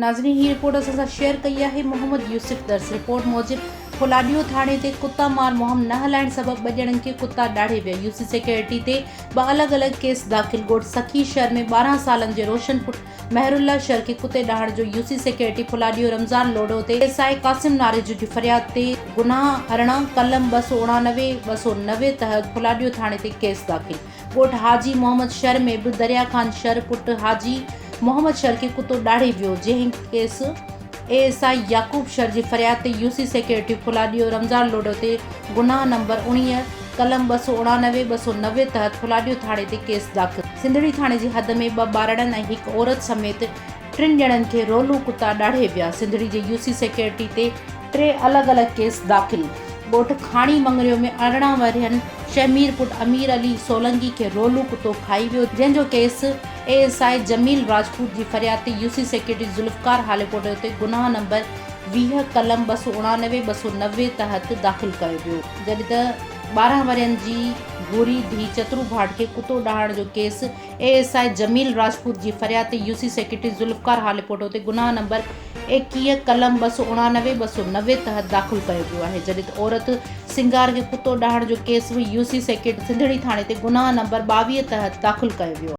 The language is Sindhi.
ناظرين هي رپورٽ اسان سان شيئر ڪئي آهي محمد يوسف درس رپورٽ موجب ڦولاڏيو ٿاڻي تي ڪتا مار مهم نه هلائڻ سبب ٻه ڄڻن کي ڪتا ڏاڙهي ويا يوسي سيڪيورٽي تي ٻه الڳ الڳ ڪيس داخل ڳوٺ سکي شهر ۾ ٻارهن سالن جي روشن پٽ مهر الله شرقي ڪتي ڏاهڻ جو U C secretary Phuladyun Ramzan Lodho تي ايس آء قاسم ناريجو جي فرياد تي گناهه ارڙهن قلم ٻه سؤ اڻانوي، ٻه سؤ نوي تحت ڦلاڏيو ٿاڻي تي ڪيس داخل ڳوٺ حاجي محمد شر ۾ به دريا خان شر پٽ حاجي محمد شرقي ڪتو ڏاڙهي ويو جنهن case. A S I Yaqoob Shar جي فرياد تي U C security Phuladyun Ramzan Lodho تي گناهه نمبر اڻيهه، قلم ٻه سؤ اڻانوي، ٻه سؤ نوي تحت ڦلاڏيو ٿاڻي تي ڪيس داخل. سنڌڙي ٿاڻي جي حد ۾ ٻه ٻارڙن ۽ هڪ عورت سميت ٽن ڄڻن کي رولون ڪتا ڏاڙهي ويا، سنڌڙي جي يو سي سيڪيورٽي تي ٽي الڳ الڳ ڪيس داخل، ڳوٺ کاڻي مڱريو ۾ ارڙهن ورهين شهمير پٽ امير علي سولنگي کي رولون ڪتو کائي ويو جنهن جو case. A S I Jamil Rajput جي فرياد تي U C secretary Zulfiqar Halepoto اتي گناهه نمبر ويهه قلم ٻه سؤ اڻاڻوي، ٻه سؤ نوي تحت داخل ڪيو ويو، جڏهن ته ٻارهن ورهين جي ڀوري ڌيء چترو ڀاٽ کي ڪتو ڏاهڻ جو case A S I Jamil Rajput جي فرياد تي U C secretary Zulfiqar Halepoto اتي گناهه نمبر ايڪيهه قلم ٻه سؤ اڻاڻوي، ٻه سؤ نوي تحت داخل ڪيو ويو آهي، جڏهن ته عورت سنگار کي ڪتو ڏاهڻ جو ڪيس به يو سي سيڪريٽري سنڌڙي ٿاڻي تي گناهه نمبر ٻاويهه تحت داخل ڪيو ويو آهي.